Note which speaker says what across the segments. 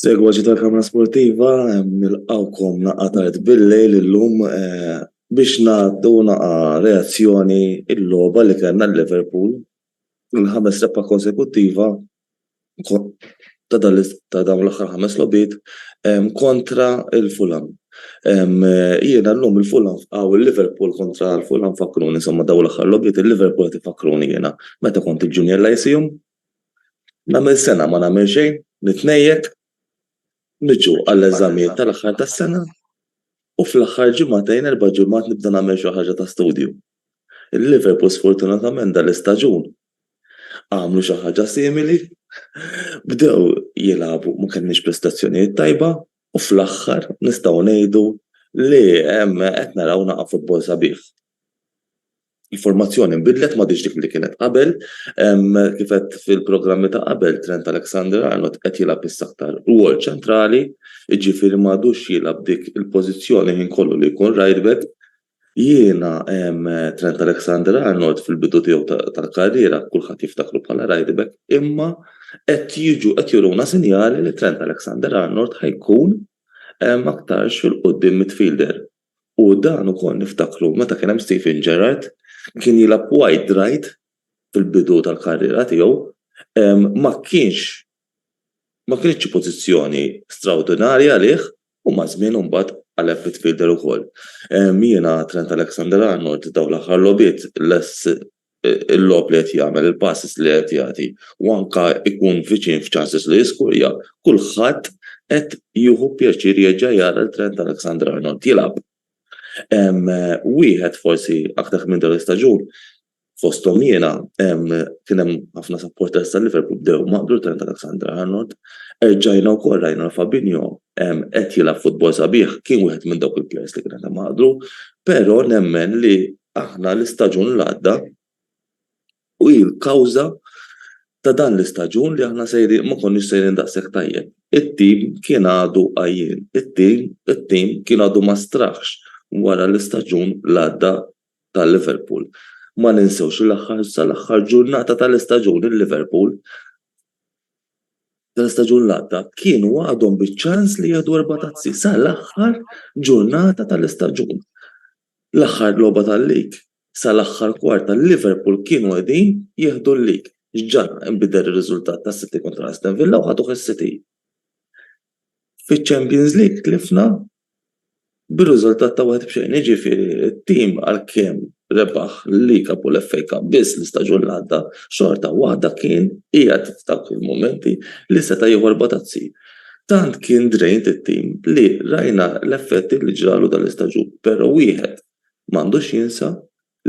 Speaker 1: Segwaġi tal-Kamra Sportiva, nilqawkom naqa tard bil-lejl illum eh, biex nagħtu naqa reazzjoni il-logħba li kellna l-Liverpool il-ħames rebħa konsekuttiva ta' dawn l-aħħar ħames logħbiet kontra l-Fulham. Jiena llum il-Fulham fqaw il-Liverpool kontra l-Fulham fakkruni insomma dawn l-aħħar logħbiet il-Liverpool qed ifakruni jiena meta kont il-junior lyceum nagħmel sena ma nagħmel xejn nitnejjek niġu għall-eżamijiet tal-aħħar tas-sena u fl-aħħar ġimagħtejn erba' ġimgħat nibda nagħmel xi ħaġa ta' studju. Il-Liverpool sfortunatament dan l-istaġun għamlu xi ħaġa simili, bdew jilagħbu ma kellniex prestazzjonijiet tajba u fl-aħħar nistgħu ngħidu li qed naraw naqa' futbol sabiħ. Il-formazzjoni nbidlet m'għadhiex dik li kienet qabel, kif għedt fil-programmi ta' qabel Trent Alexander-Arnold qed jilgħab issa aktar rwol ċentrali, jiġifieri m'għadux jilgħab dik il-pożizzjoni l-ħin kollu li jkun rightback, Jiena, Trent Alexander-Arnold fil-bidu tiegħu tal-karriera kulħadd jiftakru bħala rightback imma qed jiġu qed juruna sinjali li Trent Alexander-Arnold ħa jkun aktarx fil-quddiem midfielder. U dan ukoll niftakru meta kien hemm Steven Gerrard kien jilgħab wide right fil-bidu tal-karriera tiegħu ma kienx ma kinitx xi pożizzjoni straordinarja għalih U maż-żmien imbagħad qaleb midfielder ukoll. Jiena Trent Alexander-Arnold dawn l-aħħar logħbiet lest il-logħob li qed jagħmel, il-passes li qed jagħti u anke jkun viċin f'chances li jiskurja, kulħadd qed jieħu pjaċir jerġa' jara lil Trent Alexander-Arnold jilgħab. Wieħed forsi aktar kmieni din l-istaġun fosthom jiena, kien hemm ħafna supporters ta' Liverpool bdew maqdu l-kelm ta' Alexander-Arnold. Erġajna wkoll rajna l Fabinho qed jilgħab futbol sabiħ, kien wieħed minn dawk il-plejers li kien qed imaqdu, però nemmen li aħna l-istaġun l-għadda u hi l-kawża ta' dan l-istaġun li aħna sejrin ma konniex sejrin daqshekk tajjeb. It-tim kien għadu għajjien, it-tim it-tim kien għadu ma straħx wara l-istaġun l-għadda ta' Liverpool. Ma ninsewx li l-aħħar sal-aħħar ġurnata tal-istaġun il-Liverpool tal-istaġun li għadda kienu għadhom biċ-ċans li jieħdu erba' tazzi sal-aħħar ġurnata tal-istaġun. L-aħħar logħba tal-lig sal-aħħar kwart tal-Liverpool kienu qegħdin jieħdu l-lig. X'ġara? Inbidel ir-riżultat tas-City kontra Aston Villa u ħaduh is-City. Fiċ-Champions League tlifna bir-riżultat ta' 1 b' xejn, jiġifieri t-tim għalkemm rebaħ l-League Cup u l-FA Cup biss l-istaġun li għadda, xorta waħda kien qiegħed f'dawk il-mumenti li seta' jieħu erba' tazzi. Tant kien drained it-tim li rajna l-effetti li ġralu dal-istaġun, però wieħed m'għandux jinsa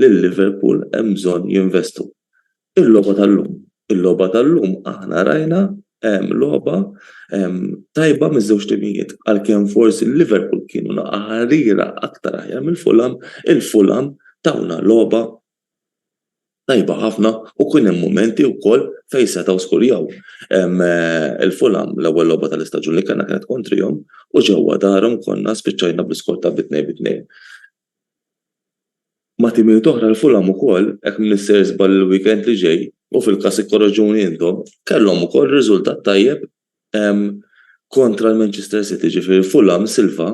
Speaker 1: Lil Liverpool hemm bżonn jinvestu. Il-logħba tal-lum, il-logħba tal-lum aħna rajna logħba tajba miż-żewġ timijiet. Għalkemm forsi lil Liverpool kienu naqaħarira aktar aħjar minn Fulham, il-Fulham tawna logħba tajba ħafna u kien hemm mumenti wkoll fejn setgħu skurjaw. Il-Fulham l-ewwel logħba tal-istaġun li kellna kienet kontrihom u ġewwa darhom konna spiċċajna bl-iskor ta' bi tnejn bi tnejn. Ma' timijiet oħra l-Fulham ukoll, hekk min se jiżball il-weekend li ġej, u fil-każ ikkorreġuni intom, kellhom ukoll riżultat tajjeb kontra l-Manchester City, ġifieri Fulham Silva,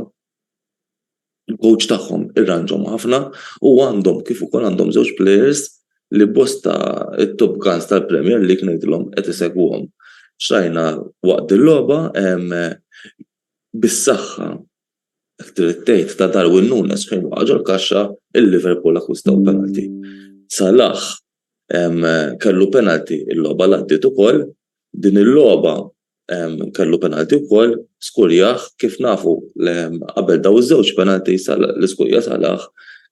Speaker 1: il-kowċ tagħhom, irranġhom ħafna u għandhom kif ukoll għandhom żewġ plejers li bosta t-top guns tal-Premier League ngħidilhom qed isegwuhom. X'rajna waqt dil-logħba, bis-saħħa Hekk trid tgħid ta' Darwin Nunez fejn waqa' ġol-kaxxa il Liverpool akkwistaw penalty. Salah kellu penalty il-logħba li għaddiet ukoll, din il-logħba kellu penalty wkoll, skurjah, kif nafu qabel dawn iż-żewġ penalties li skurja Salah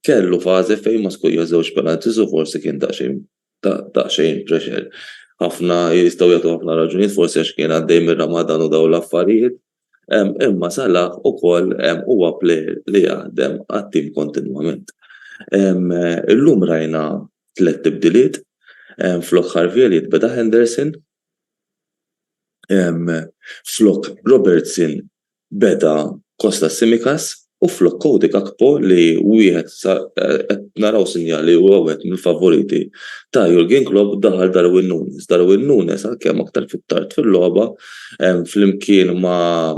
Speaker 1: kellu fażi fejn ma skurjax żewġ penalties u forsi kien daqsxejn daqsxejn pressure. Ħafna jistgħu jagħtu ħafna raġunijiet forsi għax kien għaddej mir-Ramadan u dawn l-affarijiet. imma Salah ukoll huwa plejer li jaħdem għat-tim kontinwament. Illum rajna tliet tibdiliet, flok Harvey Elliott beda Henderson, flok Robertson beda Kostas Tsimikas, U flok Cody Gakpo li hu wieħed sa qed naraw sinjali li huwa wieħed mill-favoriti ta' Jurgen Klopp daħal Darwin Nunez. Darwin Nunez għalkemm aktar fit-tard fil-logħba flimkien ma'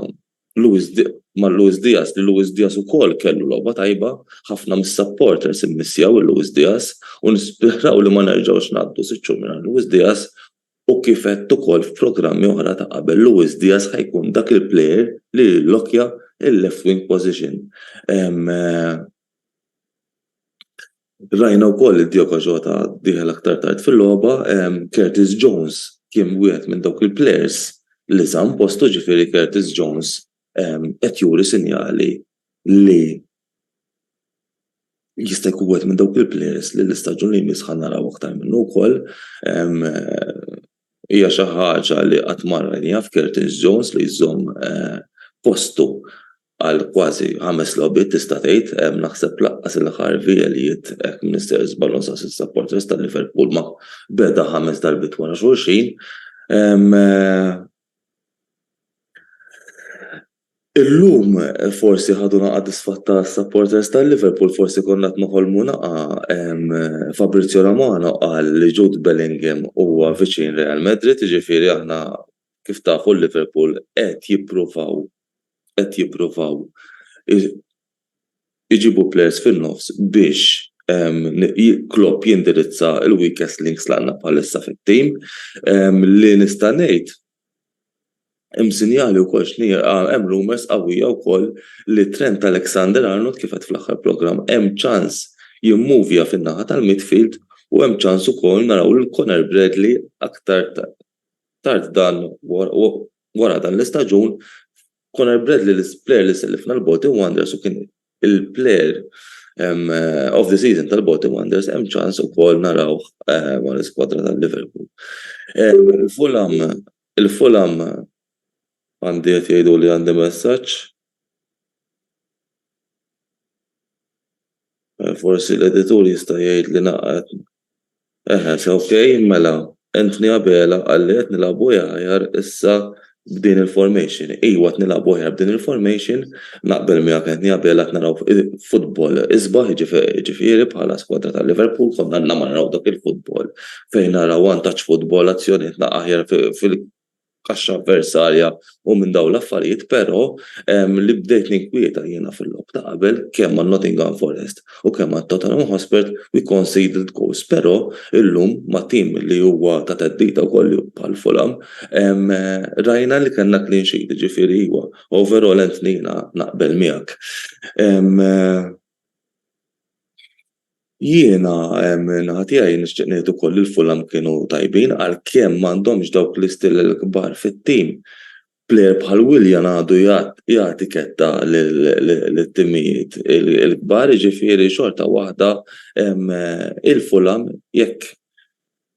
Speaker 1: Luis ma' Luis Diaz li Luis Diaz ukoll kellu logħba tajba, ħafna mis-supporters immissjaw 'il Luis Diaz u nisperaw li ma nerġgħux ngħaddu sitt xhur mingħajr Luis Diaz U kif għedt ukoll f'programmi oħra ta' qabel, Luis Diaz ħa jkun dak il-player li jillokkja l-left wing position. Rajna wkoll li Diogo Jota dieħel aktar tard fil-logħba, Curtis Jones kien wieħed minn dawk il-players li żamm postu, ġifieri Curtis Jones qed juri sinjali li jista' jkun wieħed minn dawk il-plejers li l-istaġun li jmiss ħa naraw aktar minnu wkoll. Hija xi ħaġa li qatt ma rajniha f'Curtis Jones li jżomm postu għal kważi ħames logħbiet tista' tgħid, naħseb lanqas il-Harvey Elliott jekk ma ninsehx żball u nsaqsi s-supporters ta' Liverpool ma beda ħames darbiet wara xulxin. Illum forsi ħadu nagħqa disfatt ta' supporters ta' Liverpool forsi konna qed noħolmu nagħqa Fabrizio Romano qal li Jude Bellingham huwa viċin Real Madrid jiġifieri aħna kif tafu Liverpool qed jippruvaw qed jippruvaw iġibu players fin-nofs biex Klopp jindirizza l-weakest links li għandna bħalissa fit-tim li nista' ngħid Hemm sinjali wkoll x'nierqa, hemm rumours qawwija wkoll li Trent Alexander-Arnold, kif għedt fl-aħħar programm, hemm ċans jimmuvja fin-naħa tal-midfield u hemm ċans ukoll naraw lil Conor Bradley aktar tard dan wara dan l-istaġun Conor Bradley l-plejer li sellifna l-Bolton Wanderers u kien il-plejer of the season tal-Bolton Wanderers hemm ċans ukoll naraw ma' l-iskwadra tal-Liverpool. Il-Fulham il-Fulham għandi qed jgħidu li għandi messaġġ. Forsi l-editur jista' jgħid li naqgħet Eħe, ok, mela, Anthony Abela qalli qed nilagħbu aħjar issa b'din il-formation. Iwa qed nilagħbu aħjar b'din il-formation, naqbel miegħek Anthony Abela qed naraw futbol isbaħ jiġifieri bħala skwadra ta' Liverpool konna għadna ma naraw dak il-futbol fejn naraw vantaġġ futbol azzjonijiet aħjar kaxxa avversarja u minn dawn l-affarijiet però li bdejt ninkwieta jiena fil-logħob ta' qabel kemm ma' Nottingham Forest u kemm ma' Tottenham Hotspur we conceded goals però illum ma' team li huwa ta' theddida wkoll bħal Fulham rajna li kellna clean sheet jiġifieri iva overall Anthony jiena naqbel miegħek. Jiena min-naħa tiegħi nixtieq ngħid ukoll li l-Fulham kienu tajbin għalkemm m'għandhomx dawk l-istill il-kbar fit-tim. Plejer bħal Willian għadu jagħti ketta lit-timijiet il-kbar jiġifieri xorta waħda il-Fulham jekk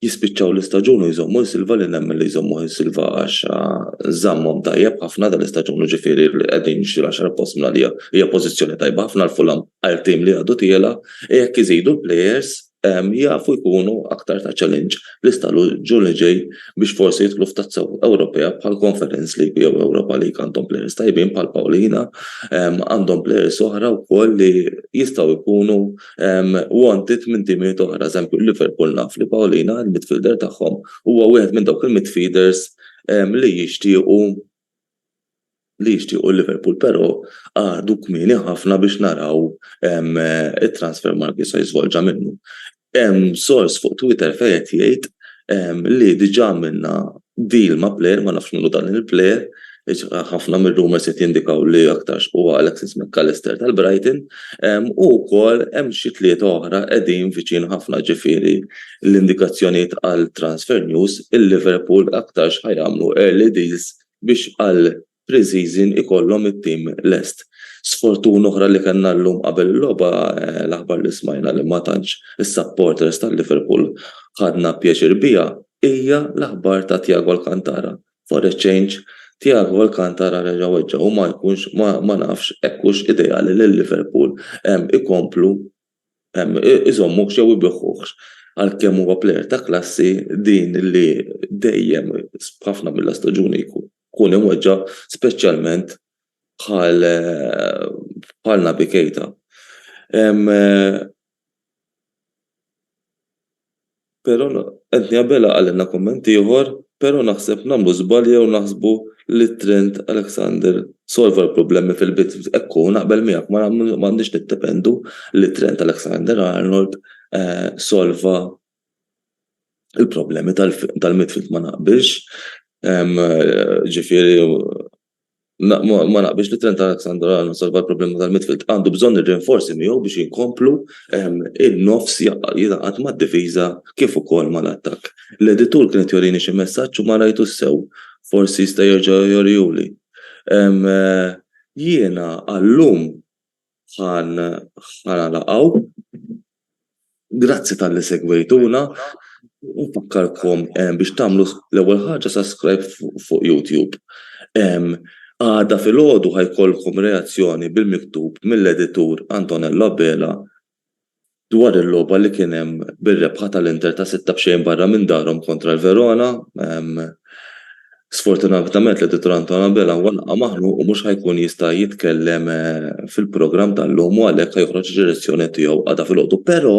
Speaker 1: jispiċċaw l-istaġun u jżommu l-silva li nemmen li jżommuh is-silva għax żammhom tajjeb ħafna dal-istaġun u ġifieri li qegħdin jixtru l-għaxar post minn għalija hija pożizzjoni tajba ħafna l-Fulham għal tim li għadu tiela' e jekk iżidu l-plejers jafu jkunu aktar ta' challenge l-istaġun li ġej biex forsi jidħlu f'tazza Ewropea bħal Conference League jew Europa League għandhom plejers tajbin bħal Paulina għandhom plejers oħra wkoll li jistgħu jkunu u għandi tmien timijiet oħra, eżempju Liverpool naf li Paulina, il-midfielder tagħhom, huwa wieħed minn dawk il-midfielders li jixtiequ li jixtiequ Liverpool, però għadu kmieni ħafna biex naraw it-transfer market se jiżvolġa minnu. Hemm sors fuq Twitter fejn qed jgħid li diġà minna deal ma' player ma nafx minnu dan il-player ħafna mir-rumors qed jindikaw li aktarx huwa Alexis Mac Allister tal-Brighton u wkoll hemm xi tlieta oħra qegħdin viċin ħafna ġifieri l-indikazzjonijiet għal transfer news il-Liverpool aktarx ħa jagħmlu early deals biex għal pre-season ikollhom it-tim lest. Sfortuna oħra li kellna llum qabel il-logħba l-aħbar li smajna li ma tantx is-supporters tal-Liverpool ħadna pjaċir biha hija l-aħbar ta' Thiago Alcantara For a change, Thiago Alcantara reġa' weġġa' u ma jkunx, ma nafx hekk hux ideali lil Liverpool ikomplu iżommuhx jew ibiħħuhx. Għalkemm huwa plejer ta' klassi, din li dejjem f'ħafna mill-istaġuni jkun imweġġa' speċjalment bħal Naby Keita. Pero Anthony Abela qalilna kumment ieħor, Pero naħseb nagħmlu żball jew naħsbu li Trent Alexander solva l-problemi fil-bidu. Hekk hu, naqbel miegħek, ma għandniex niddependu li Trent Alexander-Arnold solva l-problemi tal-midfield ma naqbilx. Ġifieri Ma naqbilx li Trent Alexander-Arnold salva l-problema tal-midfield. Għandu bżonn ir-rinforzi miegħu biex inkomplu in-nofs jingħaqad mad-difiża kif ukoll mal-attakk. L-editur kien qed jorini xi messaġġ u ma rajtux sew. Forsi jista' jerġa' jorihieli. Jiena għal-lum bħal ħara laqgħu. Grazzi talli segwejtuna. Nfakkarkom eh, biex tagħmlu l-ewwel ħaġa subscribe fuq YouTube. Għada fil-ħodu ħajkolkom reazzjoni bil-miktub mill-editur Antonella Bela dwar il-logħba li kien hemm bir-rebħa tal-Inter ta' sitta b'xejn barra minn darhom kontra l-Verona. Sfortunatament l-Editur Anton Abela huwa laqa' maħnuq u mhux ħa jkun jista' jitkellem fil-programm tal-lum u għalhekk ħa joħroġ ir-relazzjoni tiegħu għada filgħodu. Però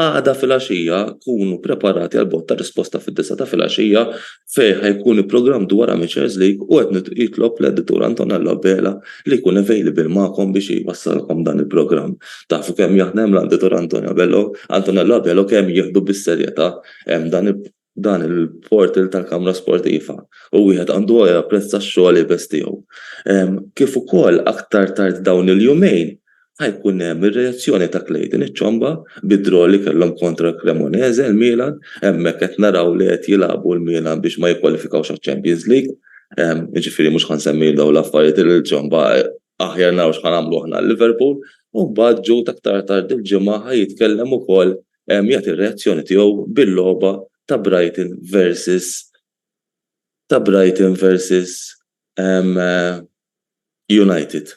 Speaker 1: għada filgħaxija kunu preparati għall-bogħotta risposta fid-disgħa ta' filgħaxija fejn ħa jkun il-programm dwar Amateurs League u qed jitlob l-Editur Antonello Abela li jkun available magħkom biex jwassalkom dan il-programm. Tafu kemm aħna hemm l-Editur Antonello Abela u kemm jieħdu bis-serjetà dan il-portal tal-Kamra Sportiva u wieħed għandu japprezza x-xogħol iebes tiegħu. Kif ukoll aktar tard dawn il-jumejn ħa jkun hemm ir-reazzjoni ta' Clayton iċ-Ciomba bid-draw li kellhom kontra Cremonese, il-Milan, hemmhekk qed naraw li qed jilagħbu l-Milan biex ma jikkwalifikawx għaċ-Champions League, jiġifieri mhux ħa nsemmihom dawn l-affarijiet il-Ciomba aħjar naraw x'ħa nagħmlu aħna għal Liverpool, u mbagħad Jude aktar tard il-Ġimgħa ħa jitkellem ukoll jagħti r-reazzjoni tiegħu bil-logħba ta' Brighton versus ta' Brighton versus United.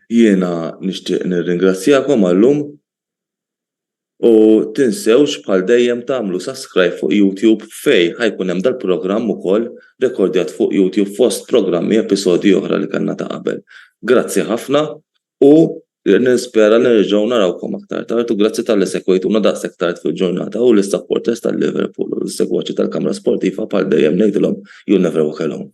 Speaker 1: Jiena nixtieq nirringrazzjakom għal-lum u tinsewx bħal dejjem tagħmlu sascribe fuq YouTube fejn ħa jkun hemm dal-programm ukoll rekordjat fuq YouTube fost programmi episodji oħra li kellna ta' qabel. Grazzi ħafna u nispera li nerġgħu narawkom aktar tard u grazzi talli segwejtuna daqshekk tard fil-ġurnata u lis-supporters tal-Liverpool u lis-segwaċi tal-Kamra Sportiva bħal dejjem ngħidilhom you never walk alone.